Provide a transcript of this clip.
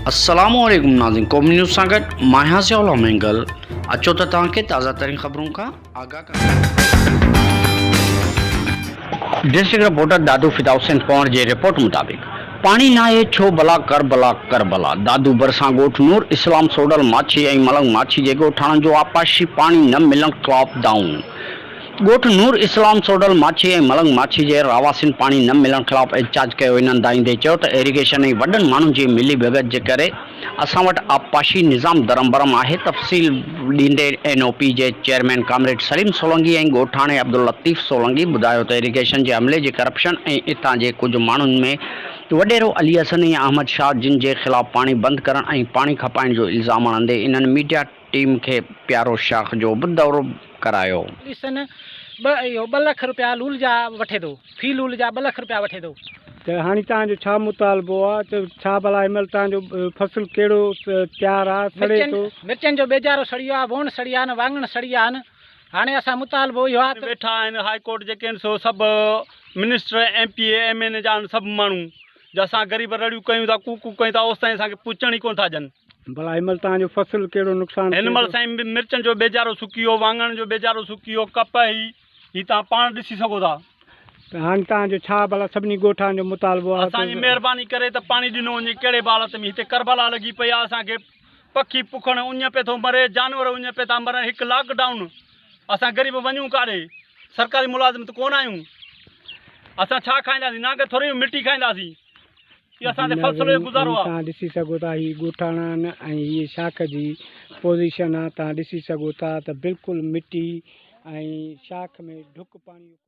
السلام عليڪم ناظرين قومي نيوز سان گڏ مان آهيان ضياء الله مينگل اچو ته توهان کي تازه ترين خبرن کان آگاهه ڪريون ڊسٽرڪٽ رپورٽر دادو فدا حسين پنهور جي رپورٽ مطابق پاڻي ناهي ڇو بلا ڪربلا ڪربلا دادو ڀرسان ڳوٺ نور اسلام سوڍل ماڇي ۽ ملنگ ماڇي جي ڳوٺاڻن جو آبپاشي پاڻي نه ملڻ ڪلاپ ڊائون ڳوٺ نور اسلام سوڍل ماڇي ۽ ملنگ ماڇي جي رهواسين پاڻي نه ملڻ خلاف احتجاج ڪيو انهن دانهيندي چيو ته ايريگيشن ۽ وڏن ماڻهن جي ملي ڀڳت جي ڪري اسان وٽ آبپاشي نظام درهم برهم آهي، تفصيل ڏيندي اين او پي جي چيئرمين ڪامريڊ سليم سولنگي ۽ ڳوٺاڻي عبداللطيف سولنگي ٻڌايو ته ايريگيشن جي عملي جي ڪرپشن ۽ اتان جي ڪجهه ماڻهن ۾ وڏيرو علي حسن ۽ احمد شاهه جن جي خلاف پاڻي بند ڪرڻ ۽ پاڻي کپائڻ جو الزام هڻندي انهن ميڊيا ٽيم کي پيارو شاخ جو به دورو ڪرايو. علي حسن ٻه اهو ٻه لک روپيا لول جا وٺي ٿو. في لول جا ٻه لک روپيا وٺي ٿو. ته هاڻي توهان جو ڇا مطالبو آ؟ ته ڇا ڀلا هن مهل توهان جو فصل ڪهڙو تيار آ، سڙي ٿو؟ مرچن جو ٻيجارو سڙي ويو آ، ووڻ سڙي ويا آهن، واڱڻ سڙي ويا آهن، هاڻي اسان مطالبو اهو آ ته. ويٺا آهن هاء ڪورٽ جيڪي آهن سو سڀ minister, M P A, M N A جا آهن سڀ ماڻهو، جو اسان غريب رڙيون ڪيون ٿا، ڪوڪ ڪوڪ ڪيون ٿا، اوستائين اسان کي پڇڻ ئي ڪونه ٿا ڏين. ڀلا هن مهل توهان جو فصل ڪهڙو نقصان ٿيو؟ هن مهل سائين مرچن جو ٻيجارو سڪي ويو، واڱڻ جو ٻيجارو سڪي ويو، ڪپهه هي. هي توهان پاڻ ڏسي سگهو ٿا. ته هاڻي توهان جو ڇا ڀلا سڀني ڳوٺان جو مطالبو آهي ته. اسان جي مهرباني ڪري ته پاڻي ڏنو وڃي ڪهڙي به حالت ۾ هتي ڪربلا لڳي پئي آهي اسان کي پکي پکڻ اڃ پئي ٿو مري جانور اڃ پئي ٿا مرن هڪ لاڪ ڊائون اسان غريب وڃون ڪاڏي سرڪاري ملازم ته ڪونه آهيون اسان ڇا کائينداسين نانگ ٿوري مٽي کائينداسين جيڪو توهان ڏسي سگهو ٿا هي ڳوٺاڻا آهن ۽ هيء شاخ جي پوزيشن آهي توهان ڏسي سگهو ٿا ته بلڪل مٽي ۽ شاخ ۾ ڍڪ پاڻي